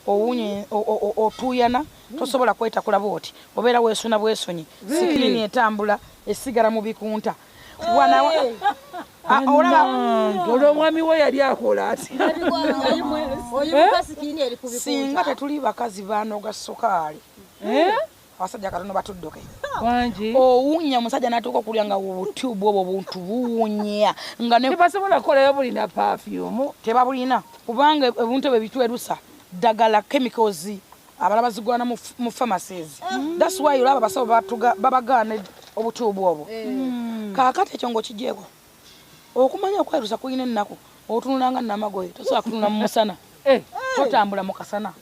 owunye otuuyana tosobola kwetakula bwoti obeera weesuna bwesonyi sikilini etambula esigala mu bikunta ah, olwo omwami we yali akola atisinga eh? tetuli bakazi banoga sukaali eh? abasajja katono batudduke wangi owunya omusajja natuuka okulya nga obutubu obwo buntu buwunya nga tebasobola kukolayo bulina pafyumu tebabulina kubanga ebuntu ebyo bitwerusa ddagala chemicals abala bazigwana mu pharmacies mm. thats why olaba abasawo babagaana obutubu obwo eh. mm. kakati ekyo ngaokijeeko okumanya okwerusa kulina ennaku otunulanga namagoye tosobola kutunula mu musana eh. Eh. totambula mu kasana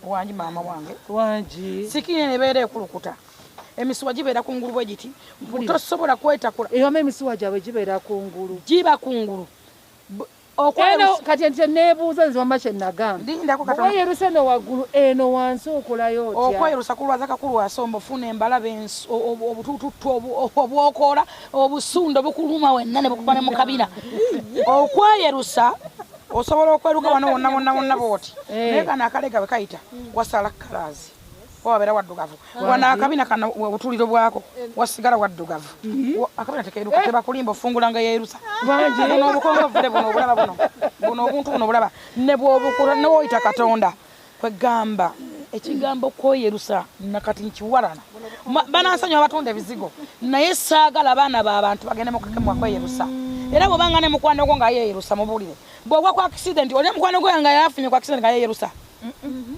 wangi maama wange wangi sikini eno ebeera ekulukuta emisuwa gibeera ku ngulu bwe giti tosobola kwetakula ewama emisuwa gyabwe gibeera ku ngulu giba ku ngulu kati enti nebuuza nze wama kyenagambawayeruse no waggulu eno wansi okolayo otya okweyerusa kulwaza kakulwasa omufuna embalabe obutututtu obwokoola obusundo bukuluma wenna ne bukuba ne mukabina okweyerusa osobola okweruka wano wonna wonna wonna bwoti eh. naye kano akalega bwe kayita wasala kalaazi wabeera waddugavu wano akabina kana obutuliro bwako wasigala waddugavu mhm. akabina tekeruka eh. tebakulimba ofungula nga yerusa buno obukongovule buno obulaba buno buno obuntu buno obulaba nebwobukula newoyita katonda Kwegamba ekigambo kweyerusa nakati nkiwarana. Banansonyiwa abatunda ebizigo naye saagala baana ba bantu bagende mukukemwa kweyerusa. Era bwobanga ne mukwano gwo nga yeyerusa mubuulire. Bwogwa ku accident olina mukwano gwo nga yafunye ku accident nga yeyerusa.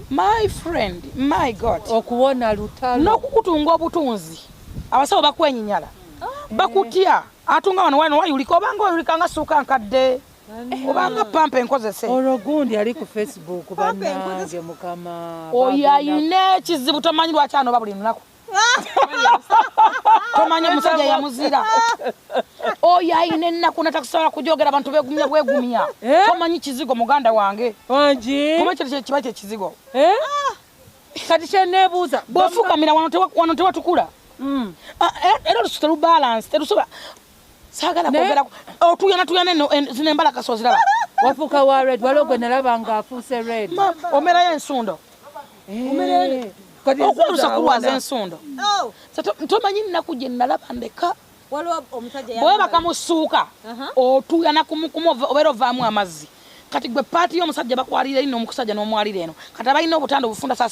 My friend, my God. Okuwona lutalo. N'okukutunga obutunzi. Abasawo bakwenyinyala. Bakutya. Atunga wano wano wayulika obanga oyulika nga suuka nkadde. obanga pampa enkozese olwo gundi ali ku facebook banange mukama oyo ayina ekizibu tomanyi lwaki anoba buli lunaku tomanyi omusajja yamuzira oyo ayina ennaku natakusobola kujogera abantu begumya bwegumya eh? tomanyi kizigo muganda wange kuba ekyo kiba kyekizigo eh? kati kyenebuuza bwofukamira wano tewatukula mm. ah, eh, era olususu telubalansi telusobola saagala kwogera otuyana tuyana eno zino embala kaso ziraba wafuuka wa red waliwo gwe nalaba nga afuuse red omerayo ensundo eh. okulusa kulwaza ensundo oh. tomanyi nnaku gye nalaba ndeka bwebaka musuuka otuyana kumukumu obeera ovaamu amazzi kati gwe paati y'omusajja bakwalira ino omukusajja n'omwalira eno kati abalina obutanda obufunda saasira